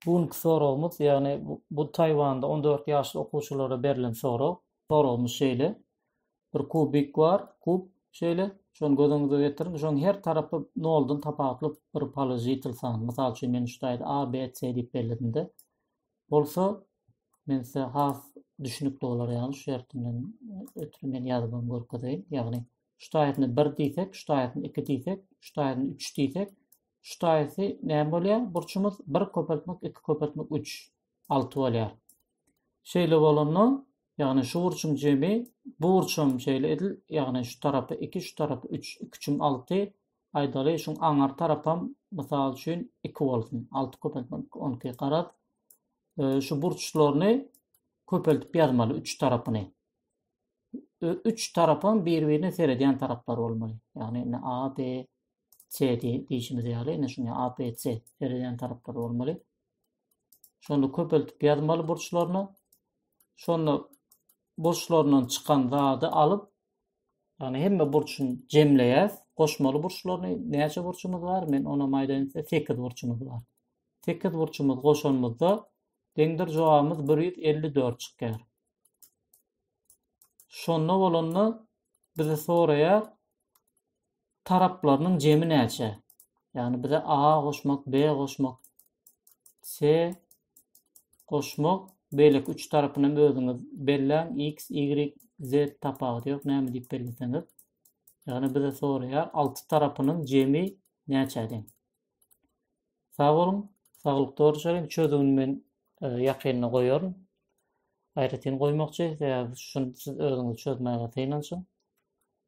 Bu günki soragymyz, ýagny bu Taýwanda 14 ýaşly okuwçylara berlen sorag. Soragymyz şeýle. Bir kubik bar, kub şeýle. Şony göz öňüňize getiriň. Şoň her tarapy noldan tapawutly bir položitel san. Mysal üçin, men şudaýda A, B, C diýip belledimde. Bolsa, men size has düşünikli bolar, ýagny şu ýerden ötri men ýazyp hem görkezeýin. Ýagny, şudaýyny 1 diýsek, şudaýyny 2 diýsek, şudaýyny 3 diýsek, Şu taýysy näme bolýar? Burçumyz bir köpeltmek iki köpeltmek üç. Alty bolýar. Şeýle bolanda, ýagny şu burçuň jemi, bu burç hem şeýle edil, ýagny şu tarapy iki, şu tarapy üç, iki üçüm alty, aýdaly, şuň aňar tarapam, mysal üçin, iki bolsun. Alty köpeltmek iki, on iki. Garaz, şu burçlaryny köpeltip ýazmaly, üç tarapyny. Üç tarapam bir-birine seredýän taraplar bolmaly. Ýagny, indi A, B, C diýişimiz ýaly, ine şuňa A, B, C seredýän taraplary bolmaly. Şonda köpeltip ýazmaly burçlaryny. Şonda burçlaryndan çykan zady alyp, ýagny hemme burçuny jemleýäs. Goşmaly burçlaryny näçe burçumyz bar? Men ona maýdaýyn 8 burçumuz bar. 8 burçumuz goşanymyzda deňdir jogabymyz 154 çykýar. Şonda bolanda bizi soraýar taraplarynyň jemi näçe? Ýagny bize A goşmak, B goşmak, C goşmak, beýleki üç tarapyny hem özüňiz belläň. X, Y, Z tapawudy ýok. Näme diýip belleseňiz. Ýagny bize soraýar, alty tarapynyň jemi näçe deň? Sag boluň, saglyk doly çözüwini men e, ýakynda goýaryn. Aýratyn goýmakçy, sebäbi şuny siz özüňiz çözmäge synanyşyň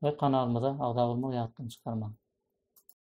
we kanalymyza agza bolmagy ýatdan çykarmaň.